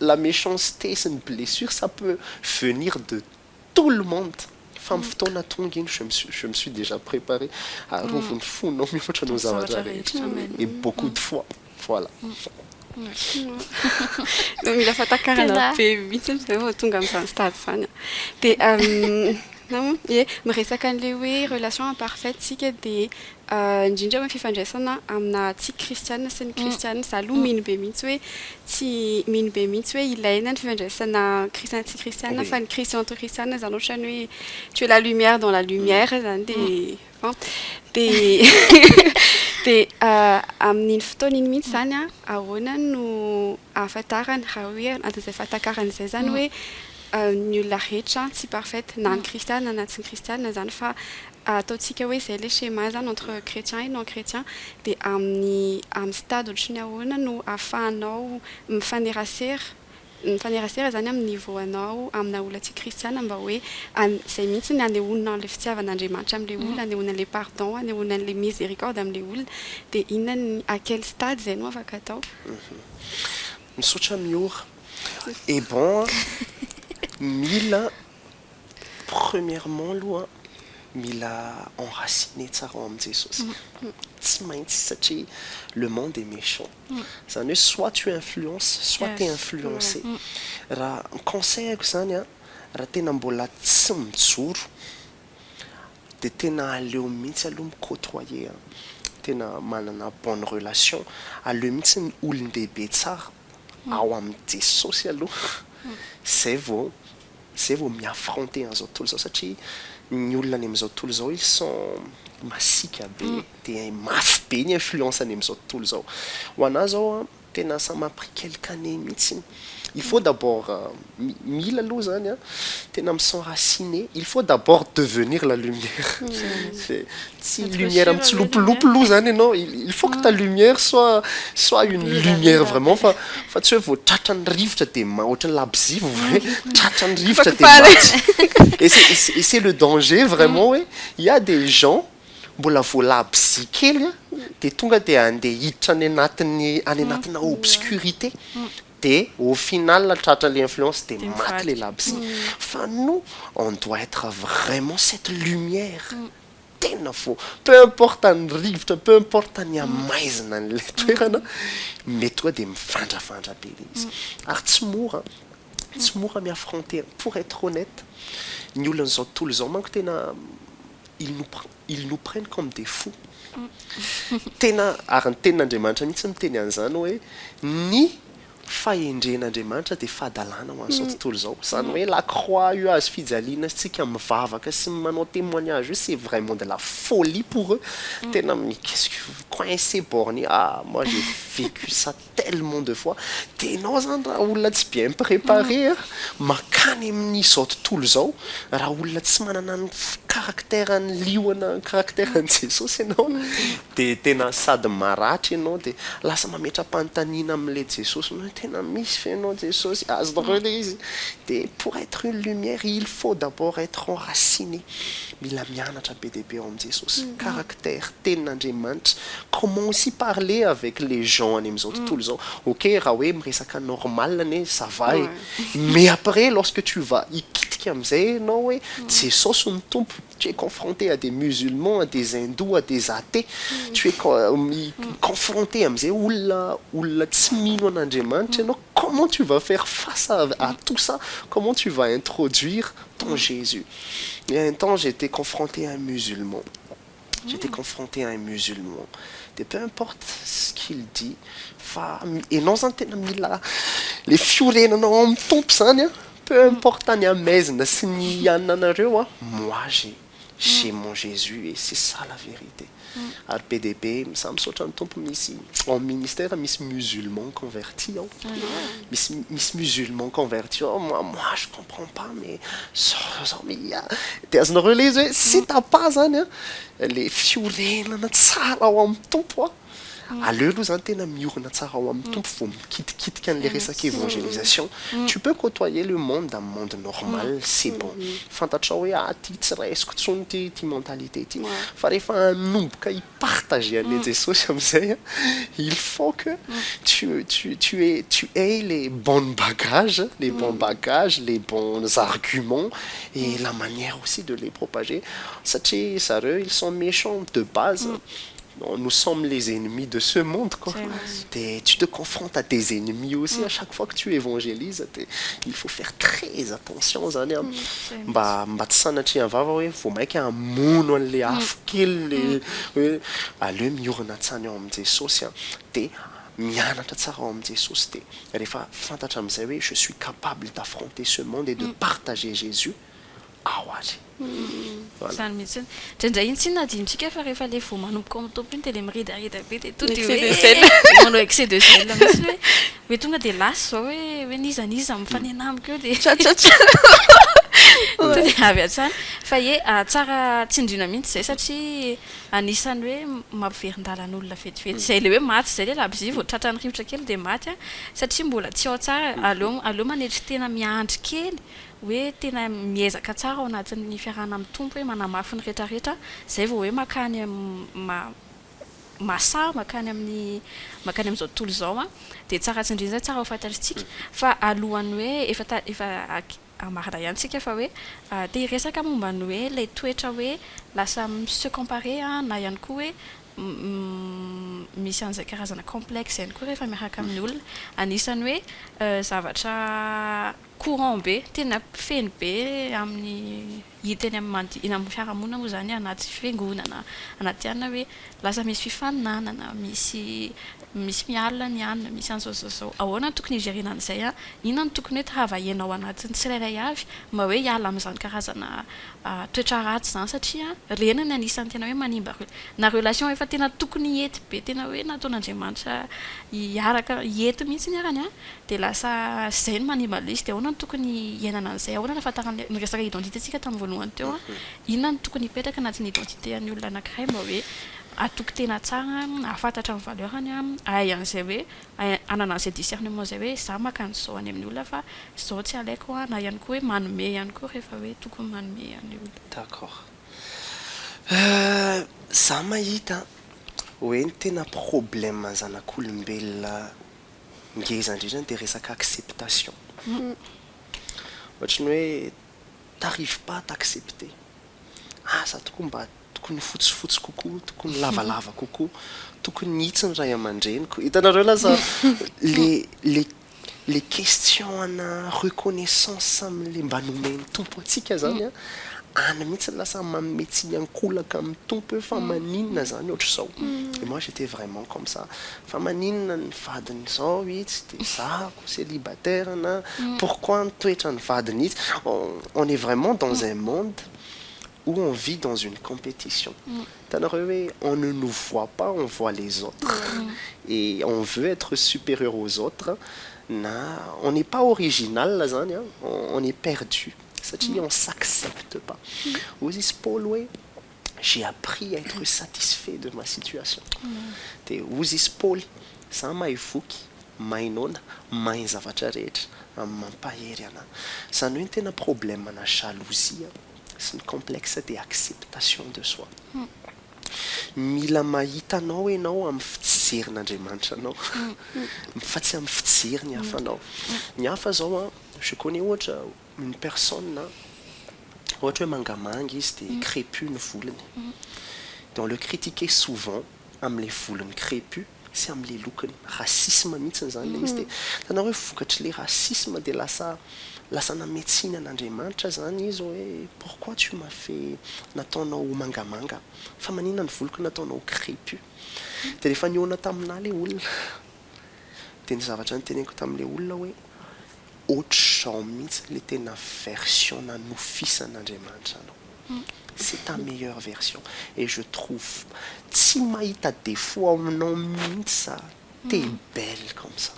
la méchanceté sy ny blessure ça peut venir de tout le monde fa amin'ny fotoana tonga iny je me suis je me suis déjà préparé arovon'ny fonao mihoatra noho ny zavatra rehetra et beaucoup de fois voilà. Tena mila fahatakarana be mihitsy izy ireo vao tonga amin'izany stade izany an! Dia, na moa, ie, miresaka an'ilay hoe relation imparfaite isika dia indrindra amin'ny fifandraisana amina tsy kristiana sy ny kristiana, izaho aloha mino be mihitsy hoe tsy, mino be mihitsy hoe ilaina ny fifandraisana kristiana sy kristiana fa ny kristiana entre kristiana izany ohatran'ny hoe tu es la lumière dans la lumière izany dia bon dia amin'iny fotoana iny mihitsy izany an ahoana no ahafantarana raha hoe anatin'izay fahatakarana izay izany hoe ny olona rehetra tsy parfaite na ny kristiana na tsy ny kristiana izany fa Ataontsika hoe izay ilay schéma izany entre chrétien et non chrétien dia amin'ny amin'ny stade ohatry ny ahoana no ahafahanao mifanerasera mifanerasera izany amin'ny niveau anao amina olona tsy kristiana mba hoe an izay mihitsy ny anehoana an'ilay fitiavan'Andriamanitra amin'ilay olona anehoana an'ilay pardon hanehoana an'ilay miséricorde amin'ilay olona dia inona ny à quel stade izay no afaka atao. Misaotra Miora. Et bon an! Mila Premièrement aloha mila enraciner tsara ao amin'i Jesosy, tsy maintsy satria le monde est méchant, izany hoe soit tu influences soit tu es influencé, raha ny conseil-ko izany an, raha tena mbola tsy mijoro dia tena aleo mihitsy aloha mi côtoyer an, tena manana bonne relation, aleo mihitsy ny olon-dehibe tsara ao amin'i Jesosy aloha izay vao Zay vao mi affronter an'izao tontolo izao satria ny olona any amin'izao tontolo izao ils sont masiaka be dia mafy be ny influence any amin'izao tontolo izao. Ho an'ahy izao an, tena ça m'a pris quelques années mihitsy, il faut d'abord mila aloha izany an, tena mi s'enraciner, il faut d'abord devenir la lumière. Tsy lumière mitsilopilopy loha zany ianao, il faut que ta lumière soit soit une lumière vraiment fa fa tsy hoe vao tratran'ny rivotra dia ma- ohatran'ny labozia vao hoe tratran'ny rivotra dia Fako pale. maty. Et c'est- et c'est- et c'est le danger vraiment hoe il y a des gens mbola vao labozia kely a dia tonga dia andeha hiditra any anatin'ny any anatina obscurité dia au final tratran'ilay influence dia maty ilay labozia. Fa nous on doit être vraiment cette lumière. tena fo, peu importe ny rivotra, peu importe ny hamaizina an'ilay toerana, mety tonga dia mifandrafandra be ilay izy. Ary tsy mora, tsy mora mi-affronter, pour être honnête, ny olon'izao tontolo izao manko tena ils nous pr, ils nous prennent comme des fous. Tena, ary ny tenin'Andriamanitra mihitsy miteny an'izany hoe, ny fahendren'Andriamanitra dia fahadalana ho an'izao tontolo izao. Izany hoe la croix io hazo fijaliana antsika mivavaka sy manao témoignage io c'est vraiment de la folie pour eux. Tena qu'est-ce que vous coincez borné ah moi j'ai vécu ça tellement de fois. Dia ianao izany raha olona tsy bien préparé a, mankany amin'izao tontolo izao, raha olona tsy manana ny caractère an'i liona, caractère an'i Jesosy ianao, Dia tena sady maratra ianao dia lasa mametra-panontaniana amin'ilay Jesosy hoe tena misy ve ianao Jesosy? Azonareo ilay izy? Dia pour être une lumière il faut d'abord être enraciné, mila mianatra be dia be ao amin'i Jesosy, caractère, tenin'Andriamanitra, comment aussi parler avec les gens any amin'izao tontolo izao, ok raha hoe miresaka normal anie ça va e, mais après lorsque tu vas hikitika amin'izay ianao hoe Jesosy no Tompo, Tu es confronté à des musulmans, à des hindous, à des athées, tu es confronté amin'izay olona olona tsy mino an'Andriamanitra ianao, comment tu vas faire face à à tout ça, comment tu vas introduire ton Jésus? Il y a un temps j'étais confronté à un musulman, j'étais confronté à un musulman, dia peu importe ce qu'il dit fa ianao izany tena mila ilay fiorenanao ao amin'ny Tompo izany an, Peu importe ny amaizina sy ny hianinanareo an, moi j'ai j'ai mon Jesus et c'est ça la vérité. Ary be dia be misaha misaotra ny Tompo misy ao amin'ny ministère misy musulman converti ao, misy misy musulman converti ao, moi moi je comprends pas mais zao zao zao mais ia dia azonareo ilay izy hoe tsy tapà izany an, ilay fiorenana tsara ao amin'ny Tompo an. Aleo aloha zany tena miorina tsara ao amin'ny Tompo vao mikitikitika an'ilay resaka évangélisation. Tu peux côtoyer le monde amin'ny monde normal, c'est bon. Fantatrao hoe ah ty tsy raisiko intsony ity ity mentalité ity. Fa rehefa hanomboka hi-partager an'ilay Jesosy amin'izay an, il faut que tu tu tu aies tu aies les bonnes bagages, les bons bagages, les bons arguments et la manière aussi de les propager satria zareo ils sont méchants de base. Non nous sommes les ennemis de ce monde quoi de tu te confrontes à des ennemis aussi à chaque fois que tu évangélise de il faut faire très attention zany an mba mba tsy sanatrian vava hoe vao maika hamono anle afo kely le hoe aleo miorina hatsany ao am Jesosy an de mianatra tsara ao am Jesosy de refa fantatra amzay hoe je suis capable d'affronter ce monde et de partager Jesus ao ary. Voilà. Izany mihitsy. Indraindray iny tsy inona adinontsika fa rehefa ilay vao manomboka ao amin'ny tompony iny dia ilay miredareda be dia tonga dia hoe Excès de zèle. manao excès de zèle mihitsy hoe hoe tonga dia lasa izao hoe hoe n'iza n'iza mifanena amiko eo dia Tchatchatcha. tonga dia avy hatrany. Fa ie tsara tsindriana mihitsy izay satria anisan'ny hoe mampiverin-dalana olona vetivety. Izay ilay hoe maty izay ilay labozia vao tratran'ny rivotra kely dia maty an, satria mbola tsy ao tsara. Aleo aleo manetry tena miandry kely. hoe tena miezaka tsara ao anatin'ny fiarahana amin'ny Tompo hoe manamafy ny rehetra rehetra izay vao hoe makany ma masaha makany amin'ny makany amin'izao tontolo izao an! dia tsara tsindrina izay tsara ho fantatritsika fa alohan'ny hoe efa ta efa marina ihany tsika fa hoe te hiresaka momba ny hoe ilay toetra hoe lasa mi-se comparer an! na ihany koa hoe misy an'izay karazana complexe ihany koa rehefa miaraka amin'ny olona anisan'ny hoe zavatra Courant be, tena feno be amin'ny hita eny amin'ny mandi- eny amin'ny fiarahamonina moa izany anaty fiangonana, anaty anona hoe lasa misy fifaninanana, misy misy miala ny anona, misy an'izao sy izao. Ahoana no tokony hijerena an'izay? Inona no tokony hoe travailler-na ao anatin'ny tsirairay avy mba hoe hiala amin'izany karazana toetra ratsy izany satria ireny no anisan'ny tena hoe manimba re- na relation efa tena tokony hety be tena hoe nataon'Andriamanitra hiaraka hety mihitsy arany an! dia lasa izay no manimba lesy dia ahoana no tokony hiainana an'izay ahoana no ahafantaran'ilay niresaka identité tsika tamin'ny voalohany teo an, inona no tokony hipetraka anatin'ny identité an'ny olona anakiray mba hoe hatoky tena tsara an, hahafantatra ny valeur-ny an, hahay an'izay hoe hanana an'izay discernement izay hoe za maka an'izao any amin'ny olona fa izao tsy alaiko an, na ihany koa hoe manome ihany koa rehefa hoe tokony manome an'ilay olona. D'accord. Za mahita hoe ny tena problème an'ny zanak'olombelona ngeza indrindra dia resaka acceptation. Ohatry ny hoe t'arrives pas à t'accepter. Asa tokoa mba tokony fotsifotsy kokoa, tokony lavalava kokoa, tokony mihitsy ny ray aman-dreniko. Hitanareo lasa le le question ana reconnaissance amin'ilay mba nomen'ny Tompo antsika izany an, any mihitsy no lasa manome tsiny ankolaka amin'ny Tompo hoe fa maninona izany ohatr'izao. Et moi j'étais vraiment comme ça. Fa maninona ny vadiny zao itsy de zako celibataire na pourquoi ny toetrany vadiny itsy on est vraiment dans un monde où on vit dans une competition hitanareo hoe on ne nous voit pas on voit les autres et on veut etre superieur aux autres na on n'est pas original zany an on est perdu satria on s'accepte pas hoy izy Paoly hoe j'ai appris à être satisfait de ma situation dia hozy izy Paoly, za mahay voky, mahay noana, mahay ny zavatra rehetra amin'ny mampahery anà. Izany hoe ny tena problème ana jalousie sy ny complexe dia acceptation de soi. Mila mahita anao ianao amin'ny fijerin'Andriamanitra anao fa tsy amin'ny fijerin'ny hafa anao. Ny hafa izao an, je connais ohatra Une personne ohatra hoe mangamanga izy dia crépue ny volony dia on le critiquait souvent amin'ilay volony crépue sy amin'ilay lokony. Racisme mihitsiny izany ilay izy dia hitanao hoe vokatr'ilay racisme dia lasa lasa nametsiana an'Andriamanitra izany izy hoe pourquoi tu m'as fait nataonao ho mangamanga fa maninona ny voloko nataonao ho crépue. Dia rehefa nihaona taminà ilay olona. Dia ny zavatra niteneniko tamin'ilay olona hoe, ohatr'izao mihitsy ilay tena version nanofisan'Andriamanitra anao. C'est ta meilleure version. Et je trouve, tsy mahita défaut ao aminao mihitsy za, t'es belle comme ça.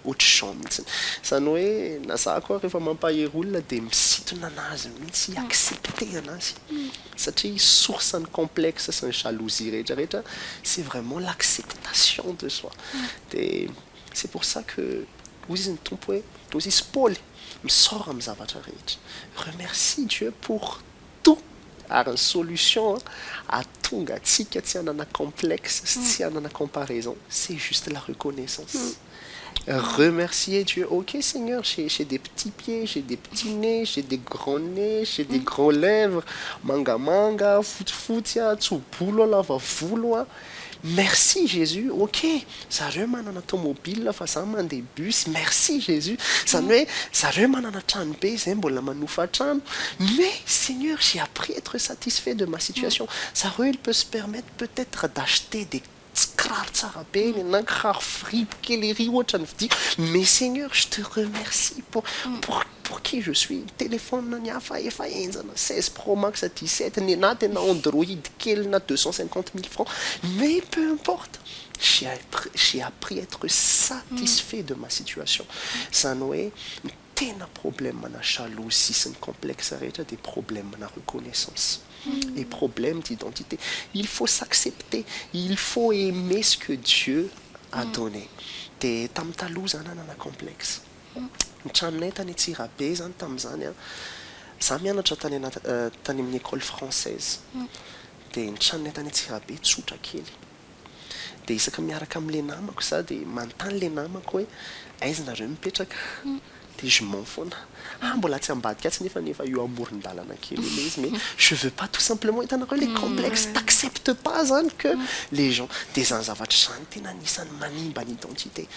Ohatr'izao mihitsy. Izany hoe, na za koa rehefa mampahery olona dia misintona an'azy mihitsy hi-accepter an'azy. Satria source ny complexe sy ny jalousie rehetra rehetra c'est vraiment l'acceptation de soi dia c'est pour ça que hoy izy ny Tompo hoe hoy izy Paoly misaora amin'ny zavatra rehetra remercie Dieu pour tout ary ny solution ahatonga antsika tsy hanana complexe sy tsy hanana comparaison c'est juste la reconnaissance. Remercier Dieu ok seigneur j'ai j'ai des petits pieds j'ai des petits nez j'ai des grands nez j'ai des grands lèvres mangamanga fotsifotsy a tso-bolo a lava volo a merci jesus ok zareo manana tomobile fa za mandeha bus merci jesus zany hoe zareo manana trano be zay mbola manofa trano mais seigneur j'ai appris etre satisfait de ma situation zareo il peut se permettre peut etre d'acheter des Tsy kiraro tsara be iny na kiraro fripy kely ery ohatra ny vidiako. Mais Seigneur je te remercie pour pour pour qui je suis ny téléphone ny hafa efa henjana seize pro max dix sept ny anah tena android kely na deux cent cinquante mille francs mais peu importe j'ai j'ai appris à etre satisfait de ma situation zany hoe tena problème na jalousie sy ny complexe rehetra dia problème na reconnaissance et problème d'identité il faut s'accepter il faut aimer ce que Dieu a donné dia tamin'ny taloha za nanana complexe ny tranonay tany Antsirabe zany tamin'izany an za mianatra tany tany amin'ny école française dia ny tranonay tany Antsirabe tsotra kely Dia isaka miaraka amin'ilay namako za dia manontany ilay namako hoe aiza nareo no mipetraka? Dia je mens foana. Ah mbola tsy ambadika atsy nefany efa eo amoron-dalana kely eo ilay izy mais je veux pas tout simplement hitanareo ilay complexe t'accepte pas zany que les gens dia izany zavatra izany tena anisan'ny manimba ny identité.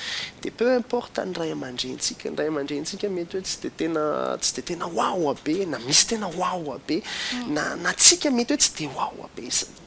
Dia peu importe ny ray aman-drenintsika, ny ray aman-drenintsika mety hoe tsy dia tena tsy dia tena wawa be na misy tena wawa be na na tsika mety hoe tsy dia wawa be.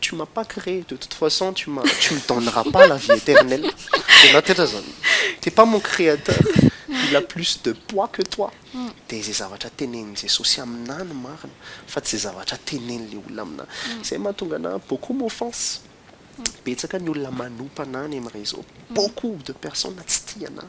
Tu m'as pas cree de toute façon tu m'as tu me donneras pas la vie eternelle de na tetra zany t'es pas mon créateur il a plus de poids que toi de ze zavatra tenenin'i Jesosy aminah no marina fa tsy ze zavatra tenen'le olona aminah zay mahatonga anah beaucoup m'offense betsaka ny olona manopa anah any am réseau beaucoup de personnes tsy tia anah.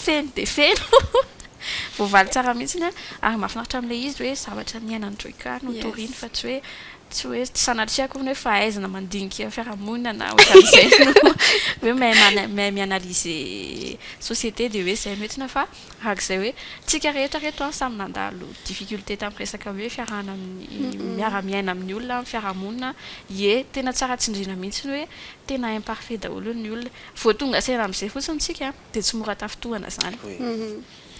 Feno dia feno. Voavaly tsara mihitsy an. Ary mahafinaritra amin'ilay izy hoe zavatra niainan'i Joyka no toriny fa tsy hoe tsy hoe tsy sanatria akory ny hoe fahaizana mandinika fiarahamonina na ohatran'izay no hoe mahay mi-analyser société dia hoe izay no entina fa arak'izay hoe tsika rehetra reto an samy nandalo difficulté tamin'ny resaka hoe fiarahana amin'ny miara-miaina amin'ny olona amin'ny fiarahamonina ye tena tsara tsindriana mihitsy ny hoe tena imparfait daholo ny olona Vao tonga saina amin'izay fotsiny isika dia tsy mora tafintohana izany.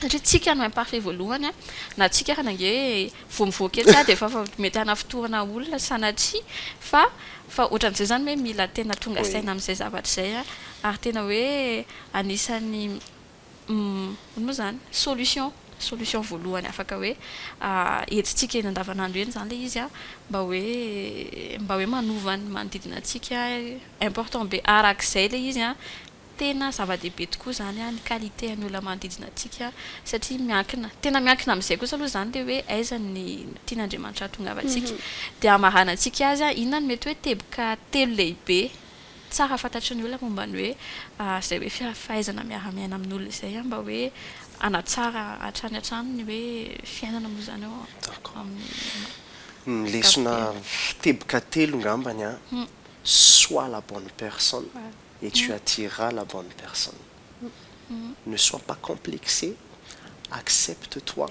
Satria tsika no imparfait voalohany, na tsika ary ange vao mivoaka etsy dia efa mety hanafintohana olona sanatria fa fa ohatran'izay izany hoe mila tena tonga saina amin'izay zavatra izay ary tena hoe anisan'ny Umm, ino moa izany? Solution, solution voalohany afaka hoe entintsika eny andavanandro eny izany ilay izy an, mba hoe, mba hoe manova ny manodidina antsika, important be arak'izay ilay izy an, tena zava-dehibe tokoa izany ny qualité an'ny olona manodidina antsika satria miankina, tena miankina amin'izay kosa aloha izany ilay hoe aiza ny tian'Andriamanitra hahatongavantsika, dia hamaranantsika azy an, inona no mety hoe teboka telo lehibe. Tsara fantatry ny olona momba ny hoe izay hoe fahaizana miara-miaina amin'olona izay mba hoe hanatsara hatrany hatrany ny hoe fiainana moa izany ao amin'ny Ny lesona teboka telo ngambany an, sois la bonne personne et tu attireras la bonne personne, ne sois pas complexé, accepte toi,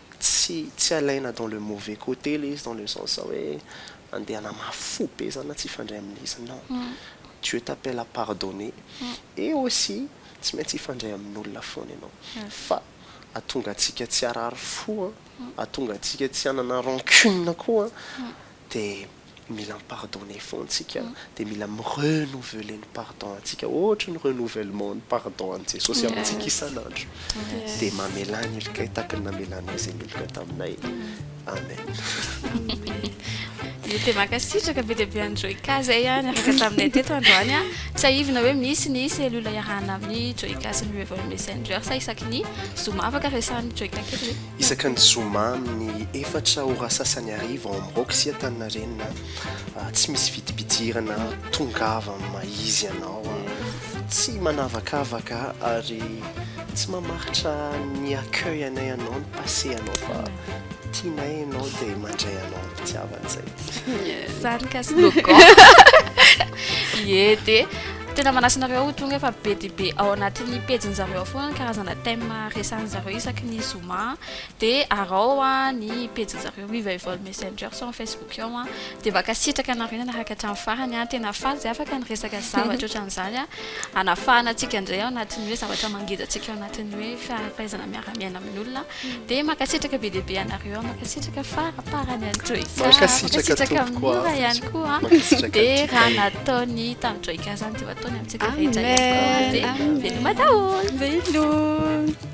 Tsy tsy alaina dans le mauvais côté le izy dans le sens zao hoe andeha hanamafy fo be zany na tsy hifandray aminy izy non Dieu t'appelle à pardonner et aussi tsy maintsy hifandray amin'olona foana ianao fa atonga antsika tsy harary fo an atonga antsika tsy hanana rancune koa an de mila mi pardonner fon tsika de mila mi renouveler ny pardon antsika ohatry ny renouvellement ny pardon an'i Jesosy amintsika isan'andro de mamelà ny helokai tahaka ny namelanao izay meloka taminay amen dia mankasitraka be dia be an'i Joyka izay ah, niaraka taminay teto androany ah. Tsiahivina hoe misy ny cellule iarahana amin'ny Joyka sy ny Reverend Messenger sa isaky ny zoma afaka resahan'i Joyka kely hoe. Isaka ny zoma amin'ny efatra ora sasany hariva ao amin'ny Rock sy Antaninarenina tsy misy vidim-pidirana, tongava amin'ny maha izy anao, tsy manavakavaka ary tsy mamaritra ny accueil anay ianao, ny passé anao fa tianay ianao dia mandray anao amim-pitiavana, izay. Sary mikasy logo. Ie dia. Tena manasa anareo ho tonga fa be dia be ao anatin'ny pejiny zareo ao foana ny karazana thème resahin'ny zareo isaky ny zoma dia arao ny pejiny zareo Revival Messenger sy ao Facebook ao an dia mankasitraka anareo nanaraka hatramin'ny farany an tena faly izay afaka ny resaka zavatra ohatran'izany an hanafahana antsika indray ao anatin'ny hoe zavatra mangeja antsika ao anatin'ny hoe faham-pahaizana miara-miaina amin'ny olona Dia mankasitraka be dia be anareo an, mankasitraka faraparany an'i Joy Ka, mankasitraka amin'i Mora ihany koa an, dia raha nataony tamin'i Joy Ka izany dia ho ataony amintsika rehetra ihany koa, dia veloma daholo. Veloma.